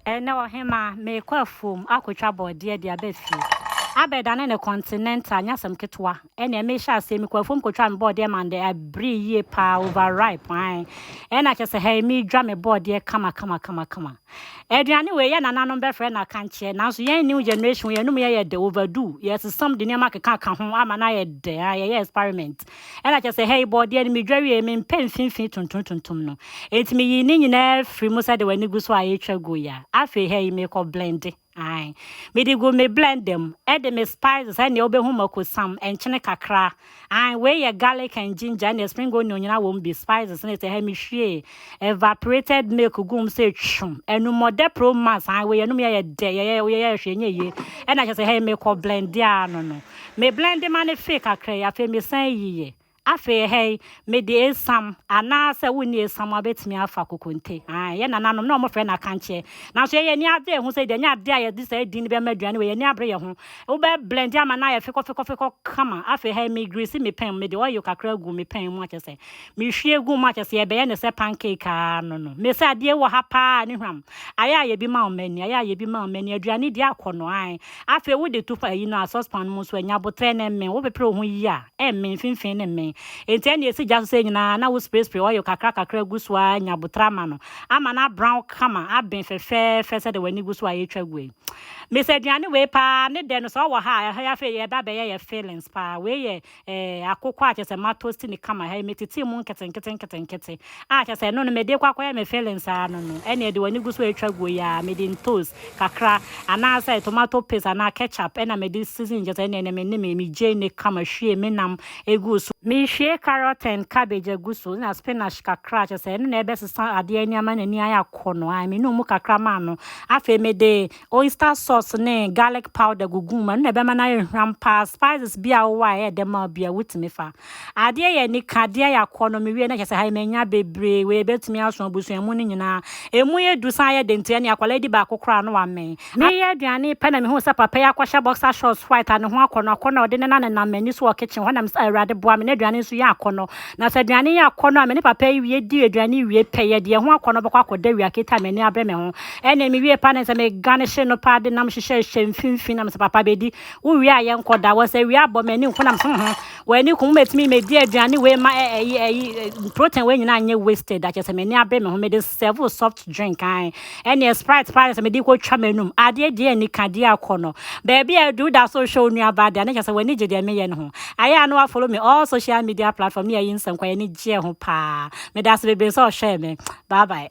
Ɛnnɛ ɔhemmaa, merekɔ afuom akɔtwa borɔdeɛ de aba fie. Abɛdane ne continental nyɛ asɛm ketewa. Ɛnneɛ mehyɛ aseɛ, mekɔ afuom kɔtwaa me bɔɔdeɛ maa no ɛberee yie paa, over ripe, ae. Ɛna kyerɛ sɛ hɛi meredwa me bɔɔdeɛ kama kama kama kama. Aduane wei yɛ nananom bɛfrɛ no akankyeɛ, nanso yɛn new generation wei yɛnom yɛ yɛ dɛ, overdue, yɛsesam de nneɛma akekaaka ho ama no ayɛ dɛ, ae, yɛyɛ experiment. Ɛna kyerɛ sɛ, hei, bɔɔdeɛ no medwa wie, mempɛ mfimfini tuntumtuntum no. Enti meyii ne nyinaa firi mu sɛdeɛ w'ani gu so a ɛretwa gu yi a. Afei, hei, mekɔ blende. Ae. Mede gu me blender mu. Ɛde me spices, ɛnneɛ wobɛhu mako sam, nkyene kakra. Ae, wei yɛ garlic and ginger, ɛnneɛ spring onion nyinaa wɔ mu bi, spices, ne sɛ, hei, mehwiee. evaporated milk gu mu sɛ twum ɛnu mɔdɛ pro max an wei ɛnum yɛyɛ dɛ yɛyɛ yɛyɛ hwɛ nyɛ yie ɛna kyɛ sɛ hɛn mekɔ blend a no no me blend ma ne fee kakra yi afei mesan yiyɛ afei hɛn mede esam anaasɛ wonni esam a bɛtumi afa kokonte an yɛ nananom na wɔfrɛ no akankyɛ nanso yɛyɛ ani ade ɛho sɛ deɛ nyɛ ade a yɛde saa din no bɛma aduane wɔ yɛn ani abere yɛ ho wobɛ blend ama no ayɛ fekɔfekɔfekɔ kama afei hɛn me grease me pɛn mu mede oil kakra gu me pɛn mu akyɛ sɛ Mehwie gu mu a kyerɛ sɛ yɛbɛyɛ no sɛ pancake ara no no. Me sɛ adeɛ wɔ ha paa ne hwam. Ayɛ ayɛ bi ma wo mani, ayɛ ayɛ bi ma wo mani. Aduane di akɔ no ae. Afei wode to pa ayi no a saucepan no mu nso a, nya aboterɛ na ɛmmen. Wopepere wo ho yie a, ɛmmen, mfimfini no mmen. Enti ɛnna ɛsi gya so sɛɛ nyinaa na wo spray spray oil kakra kakra gu so ara nya aboterɛ ama no. Ama no abrown kama, aben fɛfɛɛfɛ sɛdeɛ w'ani gu so a yɛretwa gu yi. Me sɛ aduane wei paa ne dɛ no sɛ ɔwɔ ha a, ɛha yi afei yɛba abɛyɛ yɛ fillings paa. Wei yɛ eh, akokɔ a kyerɛ sɛ matosti ne kama ha yi metetee mu nketenkete nketenkete a kyerɛ sɛ ɛno no mede kɔ akɔyɛ me feelings ara no no ɛne ɛde w'ani gu so atwa guo yi a mede ntos kakra anaasɛ tomato paste anaa ketchup ɛna mede season kyerɛ sɛ ɛne ɛne me ne me megyei ne kama hwie me nam egu so mehwie carrot and cabbage agu so na spinach kakra kyerɛ sɛ ɛno na ɛbɛsesa adeɛ ani ama n'ani ayɛ akɔ no a menu mu kakra maa no afei mede oyster sauce ne garlic powder gugu mu ɛno na ɛbɛma no ayɛ hwam paa spices bi a wowɔ a ɛyɛ dɛ ma bi a wotumi fa adeɛ yɛ nika adeɛ yɛ akɔ no mewie na kyɛ sɛ ha manya bebree wei ebɛtumi aso abusua mu no nyinaa ɛmu yɛ du san yɛ de nti ɛne akwadaa di baako koraa no wamɛn meyɛ aduane pɛ na mehu sɛ papa yi akɔhyɛ boxer shorts white a ne ho akɔ no akɔ no ɔde ne na nenam m'ani so wɔ kitchen hɔ na mesɛ awurade boa me na aduane nso yɛ akɔ no na sɛ aduane yɛ akɔ no a me ne papa yi wie di aduane wie pɛ yɛ deɛ ho akɔ no bɛkɔ akɔda wia kita m'ani abrɛ me ho Ɛnna mewiee paa na sɛ megane hye no paa de nam hyehyɛɛ hyɛ mfimfini na mesɛ papa bɛdi wowie a yɛnkɔ da wɔ sɛ wia bɔ m'ani nko na mesɛ ho w'ani ko mobɛtumi mɛdi aduane wei ma ɛyi ɛyi protein wei nyinaa nyɛ wasted akyɛ sɛ m'ani abe me ho mede serve soft drink an ɛne sprite paa sɛ mede kɔtwa m'anum adeɛ deɛ ani ka deɛ akɔ no baabi a adu da so hwɛ onuabaa deɛ ne kyɛ sɛ w'ani gye deɛ meyɛ no ho ayɛ a na wafolo me all social media platform ne yɛyi nsɛm kwa yɛne gyeɛ ho paa Medase bebree sɛ ɔhwɛɛ me. Bye bye.